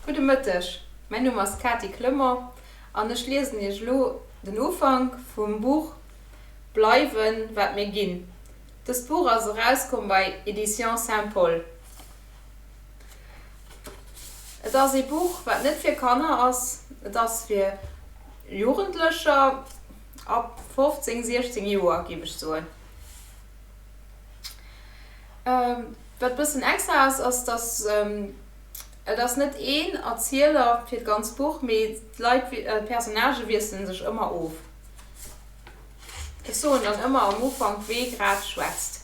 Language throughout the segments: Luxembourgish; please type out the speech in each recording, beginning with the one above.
Gudde Mëtteg, mäin Numm ass Kati Klëmmer an ech liesen Iech elo den Ufank vum Buch Bleiwen wat mir ginn. Dëst Buch ass erauskomm bei Editions Saint-Paul. Et ass ee Buch wat net fir Kanner ass, et ass fir Jugendlecher ab 15, 16 Joer géif ech soen. Wat bëssen extra ass, ass dass et ass net een Erzieler fir d'ganz Buch, mee d'Leit, d'Personnagë wiessele sech ëmmer of. Ech soen dann ëmmer am Ufank wee grad schwätzt.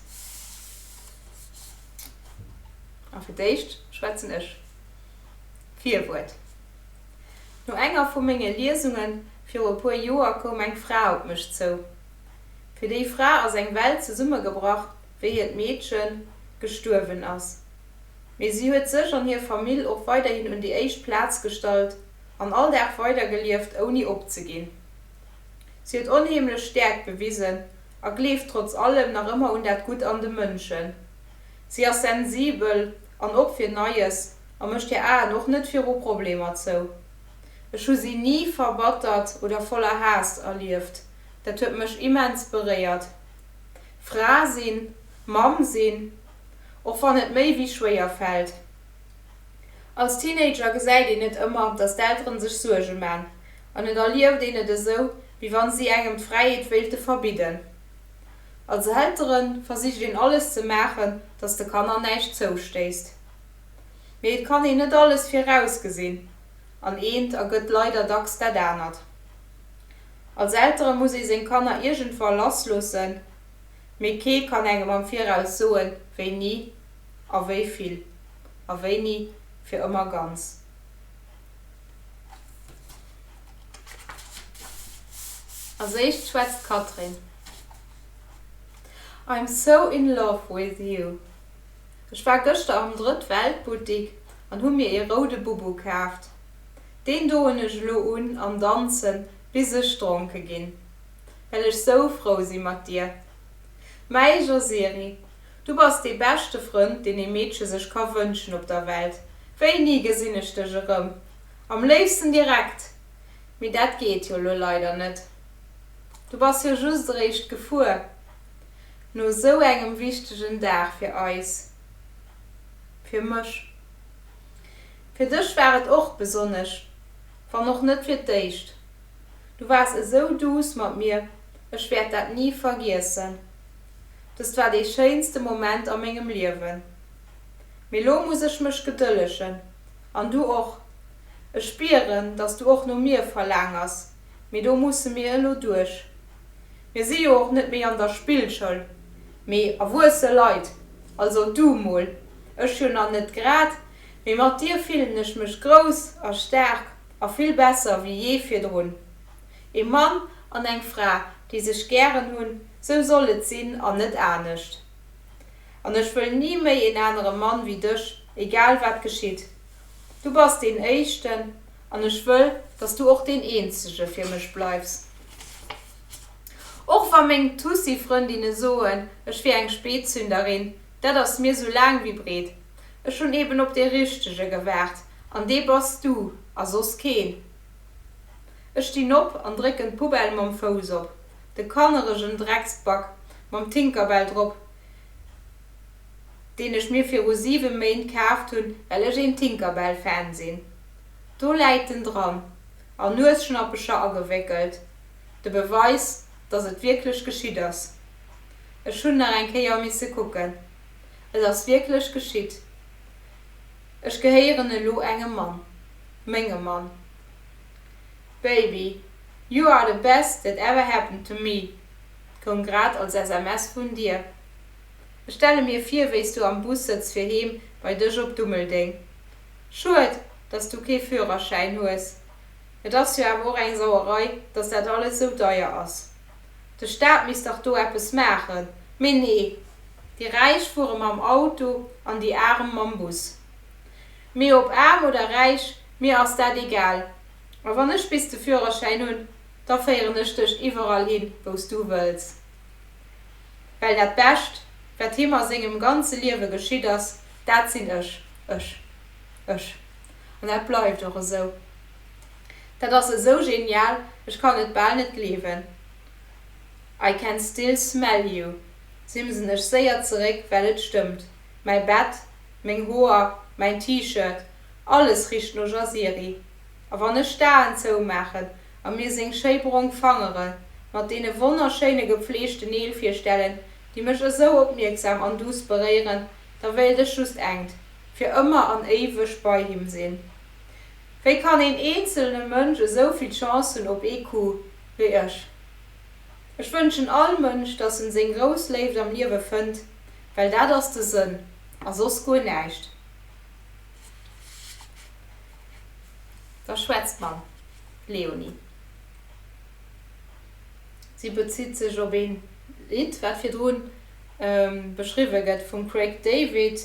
A fir d'éischt schwätzen ech. Virwuert. No enger vu menge Liesunge viru e puer Joer koum eng Fra op mech zou. Fir déi Fra ass eng Welt zesummegebrach, wéi hiert Meedchen gestuerwen ass. Mee si huet sech an hir Famill och weiderhin un déi éischt Plaz gestallt an all Dag weidergelieft, ouni opzeginn. Si huet onheemlech Stäerkt bewisen a gleeft trotz allem nach ëmmer un dat Gutt an de Mënschen. Si ass sensibel an op fir Neies a mécht hir Aen och net viru Problemer zou. Ech hu si ni verbattert oder voller Haass erlieft. Dat huet mech immens beréiert. Fra sinn, Mamm sinn, och wann et méi wéi schwéier fält. Als Teenager gesäit een net ëmmer, datt d'Elteren sech Suerge man, an et erlieft een et esou, wéi wann si engem d'Fräiheet wéilte verbidden. Als Eltere versicht een alles ze maachen, datt de Kanner näischt zoustéisst. Mee et kann een net alles virausgesinn, an eent ergëtt leider dacks dat anert. Als Eltere muss ee seng Kanner iergendwa lassloossen, mee kee kann engem am Viraus soen, wéini a wéi vill a wéini fir ëmmer ganz. Als éischt schwätzt d'Catherine. I'm so in love with you. Ech war gëschter am Drëtt-Welt-Buttik an hu mir ee roude Bubu kaaft. Deen doen ech elo un an danzen bis ech dronke ginn, well ech sou frou si mat dir. Mäi Josiri, du bass dee beschte Frënd, deen ee Meedche sech ka wënschen op der Welt. Wéini gesinn ech dech erëm? Am léifsten direkt, mee dat geet jo elo leider net. Du bass jo just eréischt gefuer. No sou engem wichtegen Dag fir eis, fir mech. Fir dech war et och besonnesch, wann och net fir d'éischt. Du waars esou douce mat mir, ech wäert dat ni vergiessen. Dëst war dee schéinste Moment a mengem Liewen. Mee lo muss ech mech gedëllegen. An du och. Ech spieren, dass du och no mir verlaangers, mee do musse mir elo duerch. Mir si jo och net méi an der Spillschoul, mee erwuesse Leit, also du mol, ech jo nach net grad. Mee mat dir fillen ech mech grouss a staark a vill besser wéi jee virdrun. Ee Mann an eng Fra, déi sech gären hunn, sou soll et sinn an net anescht. An ech wëll ni méi een anere Mann wéi dech, egal wat geschitt. Du bass deen éischten an ech wëll, dass du och deen eenzege fir mech bleifs. Och wa meng Tussi-Frëndinne soen, ech wier eng Speetzünderin, dat ass mir sou laang wéi breet. Ech hunn eben op dee Richtege gewaart, an dee bass du, a soss keen. Ech stinn op an drécken d'Poubelle mam Fouss op de kanneregen Drecksbac mam Tinkerbell drop, deen ech mir viru siwe Méint kaaft hunn, well ech een Tinkerbell-Fan sinn. Do läit en dran, a Nuesschnappecher agewéckelt, de Beweis, datt et wierklech geschitt ass. Ech hunn nach eng Kéier misse kucken. Et ass wierklech geschitt. Ech gehéieren elo engem Mann. Mengem Mann. Baby, you are the best that ever happened to me koum grad als SMS vun dir. Ech stelle mir vir, wéi s du am Bus sëtz fir heem bei dech op Dummeldeng. Schued, dass s du kee Führerschäin hues. Et ass jo awer och eng Sauerei, dass dat alles sou deier ass. De Staat misst dach do eppes maachen. Mee nee, déi Räich fuere mam Auto an déi Aarem mam Bus. Mee ob aarm oder räich, mir ass dat egal. A wann ech bis de Führerschäin hunn, da féieren ech dech iwwerall hin, wou s du wëlls. Well dat Bescht, wat him a sengem ganze Liewe geschitt ass, dat sinn ech, ech, ech. An dat bleift och esou. Dat ass esou genial, ech kann et bal net gleewen. I can still smell you simsen ech séier zeréck, well et stëmmt, mäi Bett, meng Hoer, mäin T-Shirt, alles richt no Jaziri. A wann ech d'Aen zoumaachen a mir seng schéi brong Fangere mat deene wonnerschéine gepfleegte Neel virstellen, déi mech esou opmierksam an duuss beréieren, da wéilt ech just engt, fir ëmmer an éiweg bei him sinn. Wéi kann een eenzelne Mënsch esou vill Chance hunn op ee Coup wéi ech? Ech wënschen all Mënsch, dass en seng grouss Léift am Liewe fënnt, well dat ass de Sënn a soss guer näischt. Da schwätzt mam Léonie. Si bezitt sech op een Lidd, wat virdrun beschriwwe gëtt vum Craig David.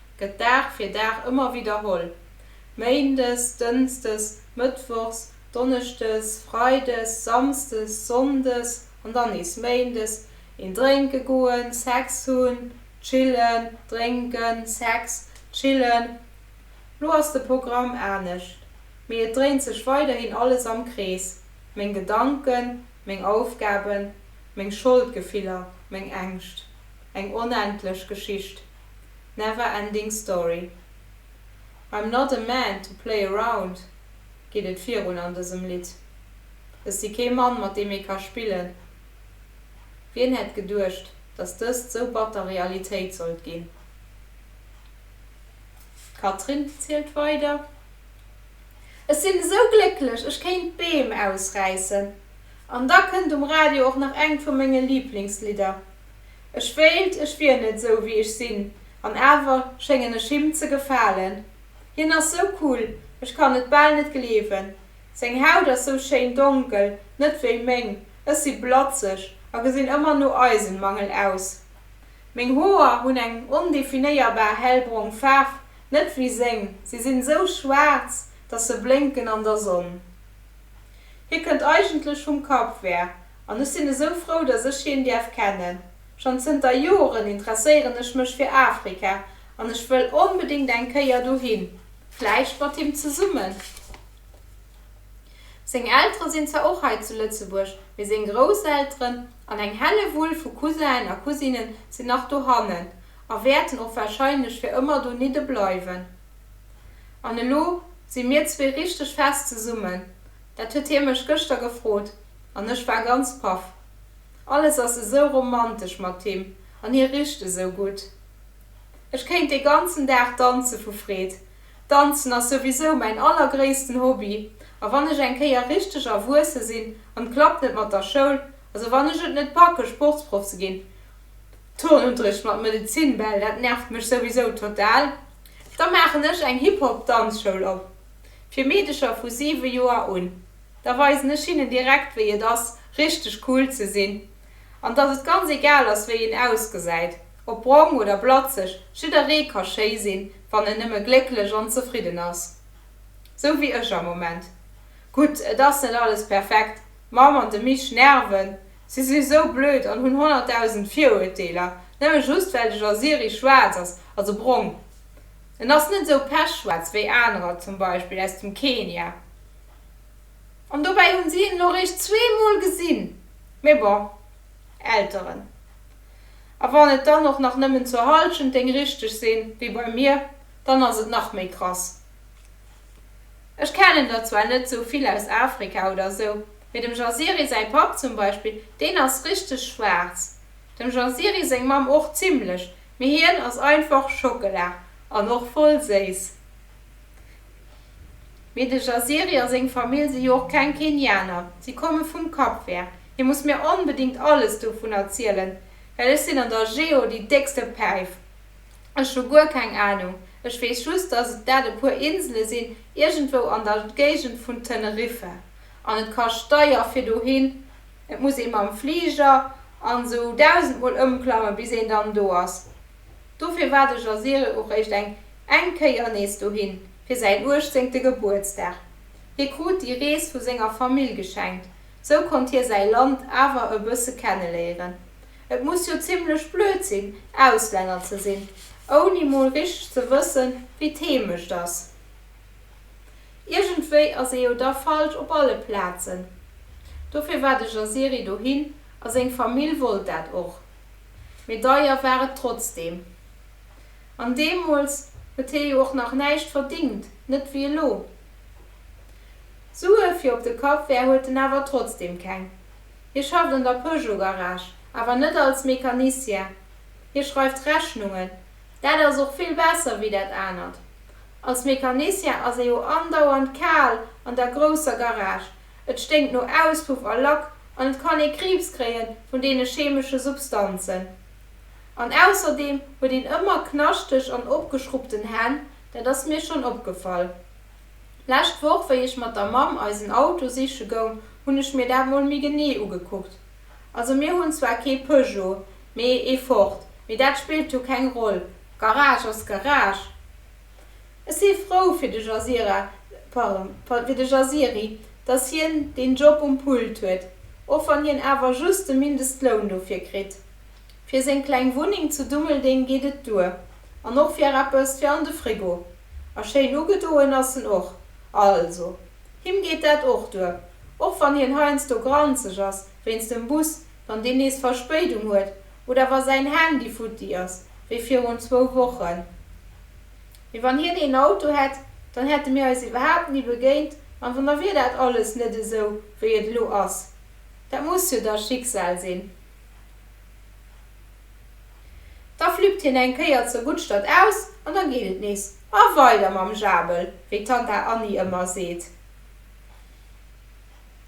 gëtt Dag fir Dag ëmmer widderholl, Méindes, Dënsdes, Mëttwochs, Donneschdes, Freides, Samsdes, Sonndes an dann nees Méindes, een drénke goen, Sex hunn, chillen, drénken, Sex, chillen. Lo ass de Programm anescht, mee et dréint sech weiderhin alles am Krees, meng Gedanken, meng Aufgaben, meng Scholdgefiller, meng Ängscht. Eng onendlech Geschicht. Never Ending Story. I'm not a man to play around geet et virun an dësem Lidd. Ech si kee Mann, mat deem ee ka spillen. Wien hätt geduecht, dass dëst sou batter Realitéit sollt ginn? D'Catherine zielt weider. Ech sinn esou glécklech, ech kéint Beem ausräissen. An da kënnt um Radio och nach engt vu menge Liiblingslidder. Ech wéilt, ech wier net esou wéi ech sinn, an awer schéngen ech him ze gefalen. Hien ass sou cool, ech kann et bal net gleewen. Seng Haut ass sou schéin donkel, net wéi meng, ech si blatzeg a gesinn ëmmer no Eisenmangel aus. Meng Hoer hunn eng ondefinéierbar hellbrong Faarf, net wéi seng, se sinn sou schwaarz, dass se blénken an der Sonn. Hie kënnt eigentlech vum Cap Vert, An ech sinn esou frou, dass ech hien däerf kennen. Schonn zënter Joren interesséieren ech mech fir Afrika an ech wëll onbedéngt eng Kéier dohin, vläicht mat him zesummen. Seng Eltere sinn zwar och hei zu Lëtzebuerg, mee seng Grousselteren an eng Hellewull vu Cousinnen a Cousinen sinn nach dohannen a wäerten och warscheinlech fir ëmmer donidde bleiwen. An elo si mir zwee richteg fest zesummen. Dat huet hie mech gëschter gefrot an ech war ganz paff. Alles ass esou romantesch mat him an hie richt esou gutt. Ech kéint dee ganzen Dag danze vu Freed. Danzen ass souwisou mäin allergréissten Hobby a wann ech eng Kéier richteg erwuesse sinn an d'klappt net mat der Schoul, also wann ech et net packe Sportsproff ze ginn, Turnunterricht mat Medezin, bäll dat nervt mech souwisou total, da maachen ech eng Hip-Hop-Danzschoul op. fir Meedecher vu 7 Joer un. Da weisen ech hinnen direkt wéi et ass richteg cool ze sinn an dass et ganz egal ass wéi een ausgesäit, ob brong oder blatzeg, jidderee ka schéi sinn, wann en nëmme glécklech an zefridden ass. Sou wéi ech am Moment. Gutt, et ass net alles perfekt, d'Mamm an de Mich nerven, si si sou blöd an hunn 100.000 Viruerteeler, nëmme just well de Jasiri schwaarz ass, also brong. En ass net esou pechschwaarz wéi anerer, zum Beispill aus dem Kenia. An dobäi hunn si en elo réischt zwee Mol gesinn. Mee bon, Elteren. A wann et dann och nach nëmmen zur Halschent déng richteg sinn, wéi bei mir, dann ass et nach méi krass. Ech kennen der zwar net esou vill aus Afrika oder esou, mee dem Jaziri säi Papp zum Beispill, deen ass richteg schwaarz. Dem Jaziri séng Mamm och zimlech. Mee hien ass einfach Schockela an och voll séiss. Mee de Jaziri a seng Famill si jo och keng Kenianer, si komme vum Kapvär. Hie muss mir onbedéngt alles dovun erzielen, well ech sinn an der Geo déi déckste Päif. Ech hu guer keng Anung. Ech weess just, dass et dat e puer Insele sinn, iergendwou an der Géigend vun Teneriffa. An et kascht deier fir dohin. Et muss ee mam Fliger an esou dausend mol ëmklammen, bis een dann do ass. Dofir war de Jazirel och réischt eng eng Kéier nees dohin, fir säin uechtzéngte Gebuertsdag. Hie krut déi Rees vu senger Famill geschenkt, sou konnt hie säi Land awer e bësse kenneléieren. Et muss jo zimmlech blöd sinn, Auslänner ze sinn, ouni mol richteg ze wëssen, wéi d'Heemecht ass. Iergendwéi ass ee jo da falsch op alle Plazen. Dofir war de Jaziri dohin a seng Famill wollt dat och. Mee deier war et trotzdeem. An deemools huet hie jo och nach näischt verdingt, net wéi elo. Sue fir op de Café huet en awer trotzdeem keng. Hie schafft an der Peugeot-Garage, awer net als Mecanicien. Hie schreift Rechnungen. Dat ass och vill besser wéi dat anert. Als Mecanicien ass ee jo andauernd kal an der grousser Garage, et sténkt no Auspuff a Lack an et kann ee Kriibs kréie vun deene chemesche Substanzen. An ausserdeem huet een ëmmer knaschteg an opgeschrubbten Hänn, dat ass mir schonn opgefall. Lescht Woch, wéi ech mat der Mamm eisen Auto siche goung, hunn ech mir dat mol méi genee ugekuckt. Also mir hunn zwar kee Peugeot, mee ee Ford, mee dat spillt jo keng Roll, Garage ass Garage. Ech si frou fir de Jazira, pardon, fir de Jaziri, dass hien deen Job um Pult huet, och wann hien awer just de Mindestloun dofir kritt. Fir seng kleng Wunneng zu Dummeldeng geet et duer, an och fir eppes fir an de Frigo. A schéin ugedoen ass en och. Also. Him geet dat och duer, och wann hien heiansdo granzeg ass wéinst dem Bus, wann deen nees Verspéidung huet oder wa säin Handy futti ass, wéi virun zwou Wochen. Mee wann hien een Auto hätt, dann hätte mir eis iwwerhaapt ni begéint an dann wier dat alles net esou, wéi et elo ass. Dat muss jo da Schicksal sinn. Da flüppt hien eng Kéier zur Guttstadt aus an da geet et nees a weider mam Jabel, wéi d'Tanta Anni ëmmer seet.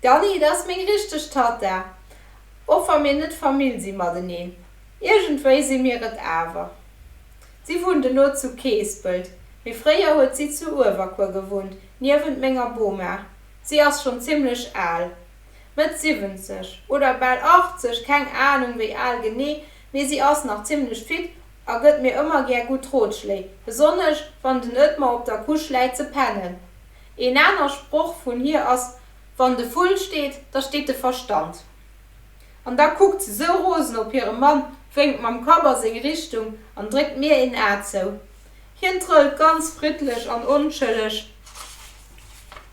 D'Anni, dat ass meng richteg Tatta, och wa mir net Famill si mateneen. Iergendwéi si mir et awer. Si wunnt elo zu Keespelt, mee fréier huet si zu Uewerkuer gewunnt, niewent menger Boma. Si ass schonn zimmlech al. Mëtt 70 oder bal 80, keng Ahnung wéi al genee, mee si ass nach zimlech fit a gëtt mir ëmmer gär gutt Rotschléi, besonnesch wann den Ëtmar op der Couche läit ze pennen. Een aner Sproch vun hir ass, Wann de Vull steet, da steet de Verstand. An da kuckt se sou rosen op hire Mann, wénkt mam Kapp a seng Richtung an dréckt mir een A zou. Hien trëllt ganz friddlech an onschëlleg.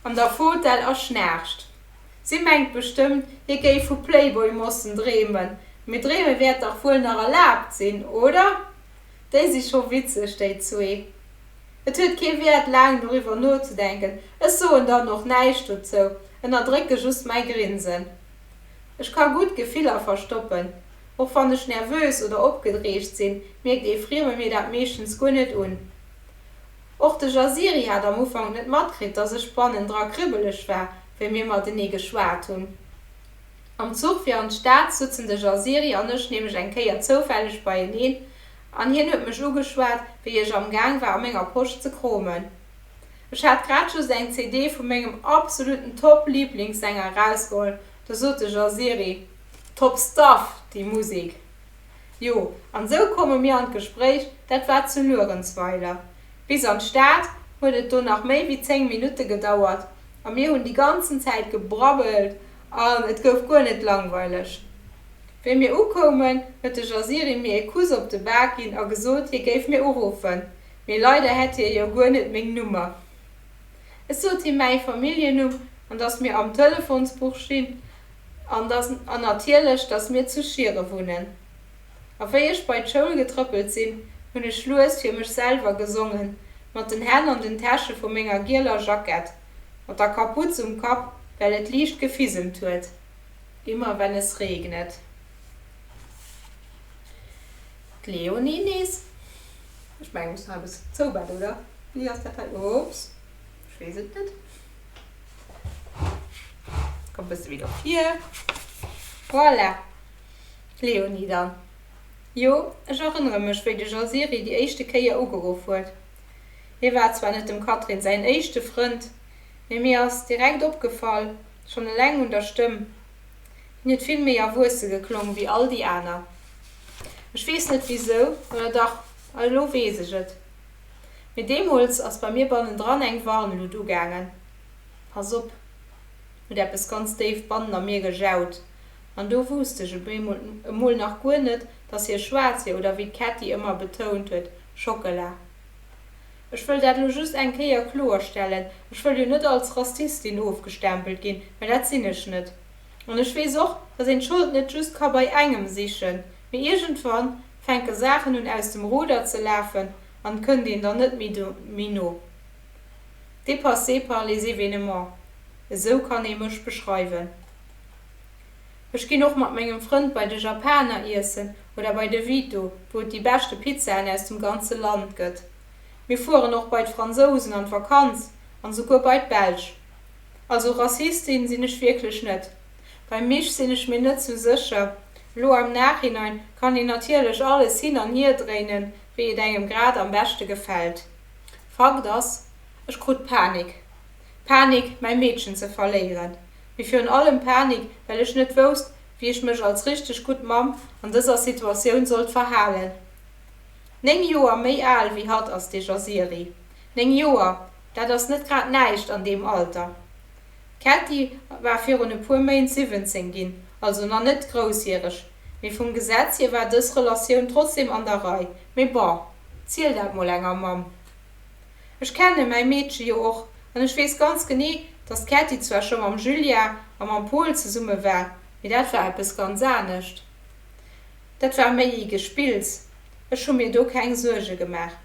an der Fotell a schnaarcht. Si mengt bestëmmt, hie géif vu Playboy-Mossen dreemen, mee dreeme wäert dach wuel nach erlaabt sinn, oder? Déi si scho witzeg, déi zwee. Et huet kee Wäert, laang doriwwer nozedenken. Ech soen dann och näischt dozou, ënnerdrécke just mäi Grinsen. Ech ka gutt Gefiller verstoppen. Och wann ech nervös oder opgedreegt sinn, mierkt ee Frieme mir dat meeschtens guer net un. Och de Jaziri hat am Ufank net matkritt, dass ech bannendra kribbeleg war, wéi mir matenee geschwat hunn. Am Zuch fir an d'Stad sutzen de Jaziri an ech nämlech eng Kéier zoufälleg beieneen an hien huet mech ugeschwat, wéi ech am Gaang war a menger Posch ze kromen. Ech hat grad just eng CD vu mengem absoluten Top-Liblingssänger erausgeholl, da sot de Jaziri, Top Stuff, déi Musek! Jo, an esou komme mir an d'Gespréich, dat war zu Luerenzweiler. Bis an d'Stad huet et do nach méi wéi 10 Minutte gedauert a mir hunn déi ganzen Zäit gebrabbelt an et gouf guer net langweileg. Wéi mir ukoumen, huet de Jaziri mir ee Kuss op de Bak ginn a gesot, hie géif mir uruffen, mee leider hätt hie jo guer net meng Nummer. Ech sot him mäi Familljennumm an dass mir am Telefonsbuch stinn An dass, an natierlech, dass mir zu Schiere wunnen. A wéi ech bei d'Schoul getrëppelt sinn, hunn ech lues fir mech selwer gesongen, mat den Hänn an den Täsche vu menger gieler Jackett, mat der Kaputz um Kapp, well et liicht gefisemt huet. Immer wenn es regnet. D'Léonie nees. Ech mengen, ech muss nach eppes zoubedde, oder wéi ass dat hei? Oops, ech weess et net. Komm bësse méi do vir. Voilà. Léonie dann. Jo, ech erënnere mech, wéi de Jaziri déi éischte Kéier ugeruff huet. Hie war zwar net dem Catherine säin éischte Frënd, mee mir ass direkt opgefall, schonn eleng un der Stëmm. Hien huet vill méi erwuesse geklong wéi all déi aner. Ech weess net wisou, oder dach, elo weess ech et. Mee deemools ass bei mir bannendran eng Warnluut ugaangen, Pass op! huet eppes ganz déif bannen a mir gejaut. An do wuusst ech op eemol, emol nach guer net, dass hie schwaarz wier oder wéi d'Ketti ëmmer betount huet, Schockela. Ech wëll dat elo just eng Kéier kloerstellen, ech wëll jo net als Rassistin ofgestempelt ginn, well dat sinn ech net. An ech weess och, dass een d'Schold net just ka bei engem sichen, mee iergendwann Fänke Saachen un aus dem Ruder ze lafen an kënn deen dann net méi no. Dépassé par les événements, esou kann ee mech beschreiwen. Ech ginn och mat mengem Frënd bei de Japaner iessen oder bei de Vito, wou et déi beschte Pizzaen aus dem ganze Land gëtt. Mir fueren och bei d'Fransousen an d'Vakanz an souguer bei d'Belsch. Also Rassistin sinn ech wierklech net. Beim Misch sinn ech mir net sou sécher. Elo am Nachhinein kann een natierlech alles hin an hier dréinen, wéi et engem grad am beschte gefält. Fakt ass, ech krut Panik. Panik, mäi Meedchen ze verléieren, mee virun allem Panik, well ech net wousst, wéi ech mech als richteg gutt Mamm an dëser Situatioun sollt verhalen. Néng Joer méi al wéi hatt ass de Jaziri. Néng Joer, dat ass net grad näischt an deem Alter. D'Cathy war virun e puer Méint 17 ginn, also nach net groussjäreg, mee vum Gesetz hier war dës Relatioun trotzdem an der Rei. Mee bon, ziel dat mol enger Mamm. Ech kenne mäi Meedche jo och an ech weess ganz genee, dass d'Cathy zwar scho mam Julia a mam Pol zesumme war, mee dat war eppes ganz anescht. Dat war méi ee Gespills, ech hu mir do keng Suerge gemaach.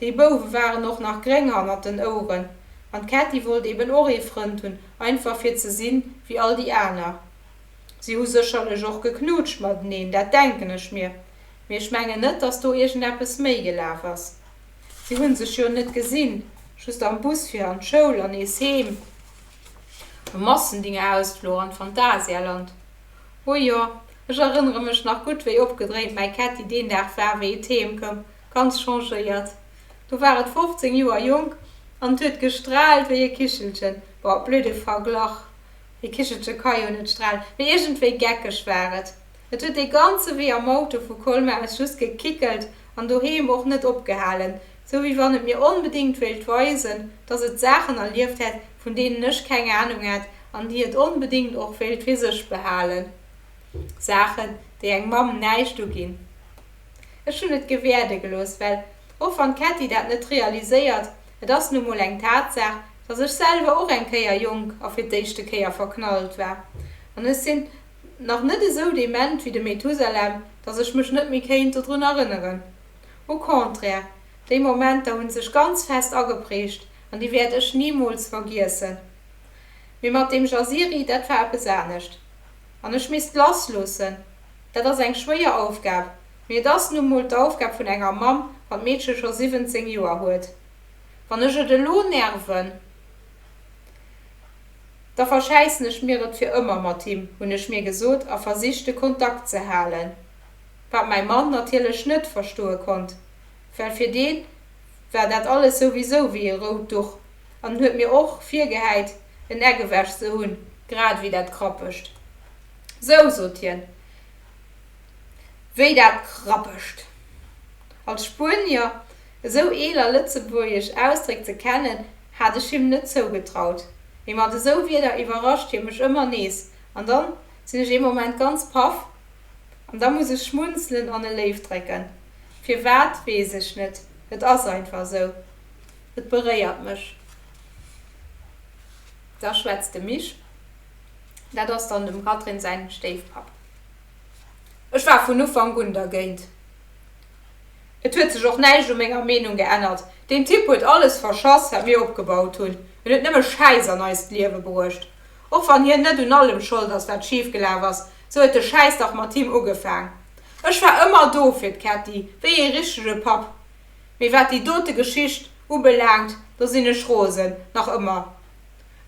Déi Bouwe waren och nach gréng hannert den Oueren an d'Kätti wollt eben och ee Frënd hunn, einfach fir ze sinn, wéi all déi aner. Si hu sécherlech och geknutscht mateneen, dat denken ech mir, mee ech mengen net, dass do iergendeppes méi gelaf ass. Si hu sech jo net gesinn, just am Bus fir an d'Schoul an nees heem. E Massendingeausfluch an d'Phantasialand. Oh jo, ech erënnere mech nach gutt, wéi opgedréint mäi Ketti deen Dag war, wéi et heem koum, ganz changéiert. Do war et 15 Joer jonk an et huet gestraalt wéi e Kichelchen. Bon, blöd de Verglach, e Kichelche ka jo net stralen, mee iergendwéi geckeg war et. Et huet dee ganze Wee am Auto vu Colmer aus just gekickelt an doheem och net opgehalen, Sou wéi wann et mir onbedéngt wéilt weisen, dass et Saachen erlieft hätt, vun deenen ech keng Anung hätt, an déi et onbedéngt och wéilt fir sech behalen. Saachen, déi eng Mamm näischt uginn. Ech hunn et gewäerde gelooss, well, och wann d'Ketti dat net realiséiert, et ass nu mol eng Tatsaach, dass ech selwer och eng Kéier jonk a fir d'éischte Kéier verknallt war. An ech sinn nach net esou dement wéi de Methusalem, dass ech mech net méi kéint dodrun erënneren. Au contraire, déi Momenter hunn sech ganz fest ageprägt an déi wäert ech nimools vergiessen. Mee mat deem Jaziri, dat war eppes anescht. An ech misst lassloossen, dat ass eng schwéier Aufgab, mee et ass nu mol d'Aufgab vun enger Mamm, wann d'Meedche scho 17 Joer huet. Wann ech et elo nerven, da verschäissen ech mir et fir ëmmer mat him, hunn ech mir gesot a versicht de Kontakt ze halen. Wat mäi Mann natierlech net verstoe konnt, well fir dee war dat alles souwisou wéi e rout Duch an huet mir och virgehäit, en Eck ewech ze hunn, grad ewéi dat Krappegt. Sou, sot hien, wéi dat Krappegt! Als Spuenier esou eel a lëtzebuergesch Ausdréck ze kennen, hat ech him net zougetraut, mee mat esou Wierder iwwerrascht hie mech ëmmer nees an dann sinn ech ee Moment ganz paff, An da muss ech schmunzelen an e Léift drécken. Firwat, weess ech net. Et ass einfach esou. Et beréiert mech. Da schwätzt de Misch, dat ass dann dem Katrin säin Stéifpapp, Ech war vun Ufank un dergéint. Et huet sech och näischt u menger Meenung geännert. Deen Typ huet alles verschass, wat mir opgebaut hunn. En huet nëmme Schäiss an eist Liewe bruecht. Och wann hien net un allem schold ass, wat schifgelaf ass. Sou huet de Schäiss dach mat him ugefaang. Ech war ëmmer do fir d'Ketti, wéi ee richtege Papp. Mee wat déi dote Geschicht ubelaangt, do sinn ech rosen, nach ëmmer.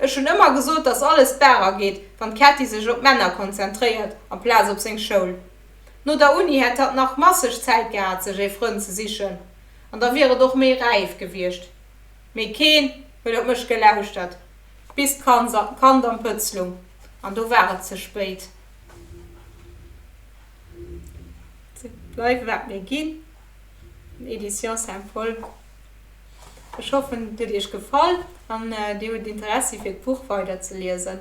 Ech hunn ëmmer gesot, dass alles barer geet, wann d'Ketti sech op d'Männer konzentréiert amplaz op seng Schoul. No der Uni hätt hatt nach masseg Zäit gehat, sech ee Frënd ze sichen, an da wier et och méi räif gewiescht. Mee keen huet op mech gelauschtert. Bis d'Kand am Pëtz lung, an do war et ze spéit. Bleiwe wat mir ginn, Editions Saint-Paul. Ech hoffen, et huet Iech gefall an Dir hutt Interessi fir d'Buch weider ze liesen.